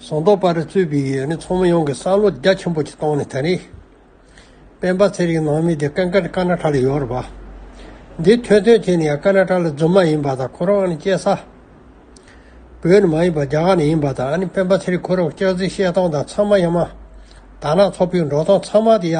ཟོང་རྟོག་པར་རྩོད་པའི་ཡུལ་ནི་ཚོགས་མི་ཡོངས་ཀྱི་བསམ་བློ་རྒྱ་ཆེན་པོ་ཞིག་བཏང་ནས་ད་རེས་སྤེན་པ་ཚེ་རིང་ནང་མི་དེ་ཀན་ཀན་ཀ་ན་ཀྲ་ལ་ཡོད་རེད་པ། འདི་ཐོས་ཐོས་བྱས་ནས་ཡང་ཀ་ན་ཀྲ་ལ་རྫུན་མ་ཡིན་པ་དང་ཁོ་རང་ནི་སྐྱེས་ས་བོད་ནས་མ་ཡིན་པར་རྒྱ་གར་ནས་ཡིན་པ་དང་ཨ་ནི་སྤེན་པ་ཚེ་རིང་ཁོ་རང་སྐྱག་རྫི་བཤད་སྟངས་དང་ཚང་མ་ཡ་མ་དར་ནག་ཚོགས་པའི་འགྲོ་སྟངས་ཚང་མ་དེ་ཡ་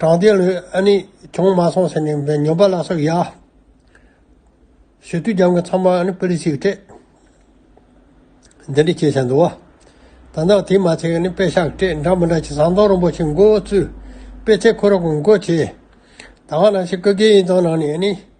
དྲང་བདེན་ལོས་ཨ་ནི་གྱོང་མ་སོང་ཟེར་ནས་ཉོན་པ་ལ་སོགས་ཡ། ཞོ་དུས་རྒྱང་གི་ཚང་མ་ཨ་ནི་པི་ལི་སིའི་སྤྲད། འདི་འདྲ་བྱས་བྱས་འདུག་བ། ད་ནག་དེ་མ་ཚད་ཨ་ནི་པེ་ཤག་སྤྲད་འདྲ་མི་འདྲ་བྱས་ཟངས་མདོག་རིན་པོ་ཆེ་མགོ་བོ་བཙུད། པེ་ཚེ་ཁོ་ར་གོང་བཀོད་བྱས། ད་ང་ནང་ཆེན་སྐུ་སྒེར་ཡིན་ཙང་ནང་ནས་ཨ་ནི།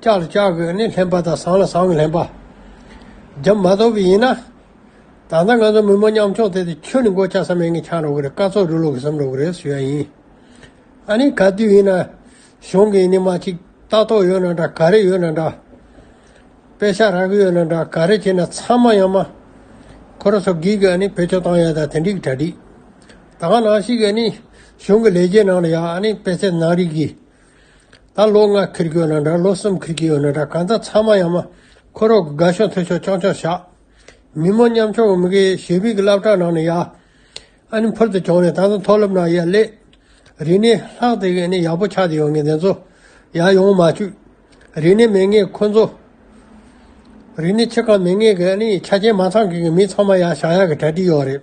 ལྕགས་ལ་ལྕགས་ཀྱི་ནི་ལྷན་པ་དང་ཟངས་ལ་ཟངས་ཀྱི་ལྷན་པ། རྒྱབ་མ་དོག་པའི་ཡིན་ན། ད་ལྟ་ང་ཚོ་མི་མོ་མཉམ་ཕྱོགས་བསྡད་དེ་ཁྱོད་ནི་མགོ་ལྕགས་སམ་མེད་ངེས་འཆང་རོགས་གི་རེད་སྐར་ཚོགས་འབྲི་ལོག་གི་སམ་རོགས་གི་རེད་ཟེར་ཡ་ཡིན། ཨ་ནི་ག་དུས་ཡིན་ན། གཞུང་གི་ནི་མ་ཅིག་ལྟ་རྟོག་ཡོད་ན་འདྲ་ག་རེ་ཡོད་ན་འདྲ། དཔེ་ཆ་རག་གི་ཡོད་ན་འདྲ་ག་རེ་བྱས་ན་ཚང་མ་ཡང་མ། ཁོ་ར་ཚོ་གིས་ཨ་ནི་བེད་སྤྱོད་བཏང་ཡ་ད་དེ་འགྲིག་གི་གྲ་འགྲིག། ད་ག་ནང་ཞིག་གི་ཨ་ནི་གཞུང་གི་ལས་བྱེད་ནང་ལ་ཡ་ཨ་ནི་དཔེ་ཚད་ནང་རིག་གི། ད་ལོ་ང་ཁིར་གྱི་ཡོད་ན་འདྲ་ལོ་གསུམ་ཁིར་གྱི་ཡོད་ན་འདྲ་གང་ལྟར་ཚང་མ་ཡང་མ་འཁོར་རོགས་དགའ་ཕྱོགས་མཐུན་ཕྱོགས་སྐྱོང་ཕྱོགས་བྱ། མི་མོ་མཉམ་ཕྱོགས་མི་དགའི་ཞེ་བིག་གི་བླ་བྲང་ནང་ནས་ཡ། ཨ་ནི་འཕུར་དུ་བྱུང་ནས་ད་དུང་མཐོ་སློབ་ནང་ཡ་སླེབས། རིག་གནས་ལྷག་དེ་གས་ནས་ཡག་པོ་ཆགས་དེ་ཡོང་ངེས་དེ་ཚོ་ཡ་ཡོང་མ་བཅུག། རིག་གནས་མེད་ངེས་ཁོ་ཚོ། རིག་གནས་ཆེ་གང་མེད་ངེས་གས་ནས་ཆ་རྐྱེན་མ་ཚང་གི་གི་མི་ཚང་མ་ཡ་ཞང་ཡག་གི་གྲ་སྒྲིག་ཡོག་རེད།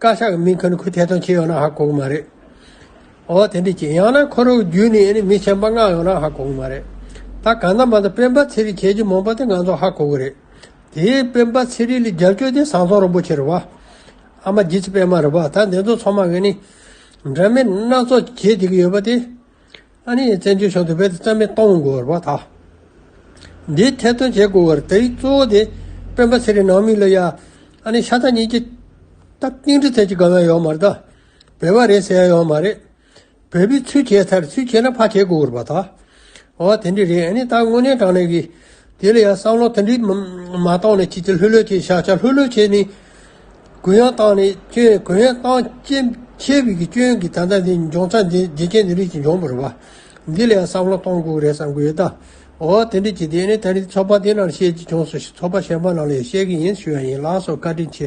བཀའ་ཤག་མིང་ཁུར་ཁུར་ཐད་གཏོང་བྱེད་ཡོང་ན་ཧ་གོ་གི་མ་རེད། འོ་དེ་འདྲས་ཀྱི་ཡང་ན་ཁོ་རང་བརྒྱུད་ནས་མི་ཆེན་པོ་མངགས་ཡོང་ན་ཧ་གོ་གི་མ་རེད། ད་ག་ནང་མ་ད་སྤེན་པ་ཚེ་རིང་ཁྱེད་ཀྱི་མོང་པ་དེ་ང་ཚོ་ཧ་གོ་གི་རེད། དེས་སྤེན་པ་ཚེ་རིང་ལ་རྒྱབ་སྐྱོར་དེ་བཟང་ཚོང་རིན་པོ་ཆེ་རེད་བ། ཨ་མ་རྗེ་ཚེ་སྤེན་མ་རེད་བ་ད་འདི་ཚོ་ཚང་མ་གི་ནི། འདྲ་མིན་སྣ་ཚོགས་བྱེད་བསྡད་ཀྱི་ཡོད་པ་དེ། ཨ་རིའི་བཙན་བྱོལ་གཞུང་དེ་བོད་དུ་རྩ་མེད་གཏོང་དགོས་བ་དང། འདིའི་ཐད་དོན་བྱེད་དགོས་བར་དེའི་གཙོ་བོ་དེ་སྤེན་པ་ཚེ་རིང་ནང་མི་ལ་ཡ་ཨ་རིའི་ཤ་ཚ་གཉིས་ཀྱི་ད་ཏིང་འདྲི་ཐད་ཀྱི་དགའ་བ་ཡོད་མ་རེད། བོད་པ་རེད་ཟེར་ཡ་ཡོད་མ་རེད། བོད་པའི་ཚུལ་བྱས་ཚར་ཚུལ་བྱས་ན་ཕ་བྱེད་དགོས་བར་བ་དང། འོ་དེ་འདྲི་རེད་ཨ་ནི་ད་དངོས་གནས་དྲང་གནས་ཀྱི་དེ་ལ་ཡང་བསམ་བློ་དེ་འདྲས་མ་བཏང་ནས་ཅི་ཅི་ལྷོད་ལྷོད་བྱས་བྱ་བྱ་ལྷོད་ལྷོད་བྱས་ནས་གུ་ཡངས་བཏང་ནས་སྐྱོན་གུ་ཡངས་བཏང་སྐྱེན་ཆེ་བས་ཀྱི་སྐྱོན་གྱི་ད་ལྟ་འདི་འབྱུང་ཚ་འདི་འདི་སྐྱེན་འདི་རིགས་ཀྱི་འབྱུང་བར་བ། འདི་ལ་ཡང་བསམ་བློ་གཏོང་དགོས་རེད་བསམ་གི་ཡོད་ད། འོ་དེ་འདྲས་ཀྱི་དེ་ནས་ད་ནི་ཚོགས་པ་འདི་ནང་བཤད་ཀྱི་བྱུང་སོ་ཞེས་ཚོགས་པ་གཞན་པ་ནང་ལ་ཡང་བཤད་ཀྱི་ཡིན་ཞུ་ཡ་ཡིན་ལགས་སོ་བཀའ་དྲིན་ཆེ།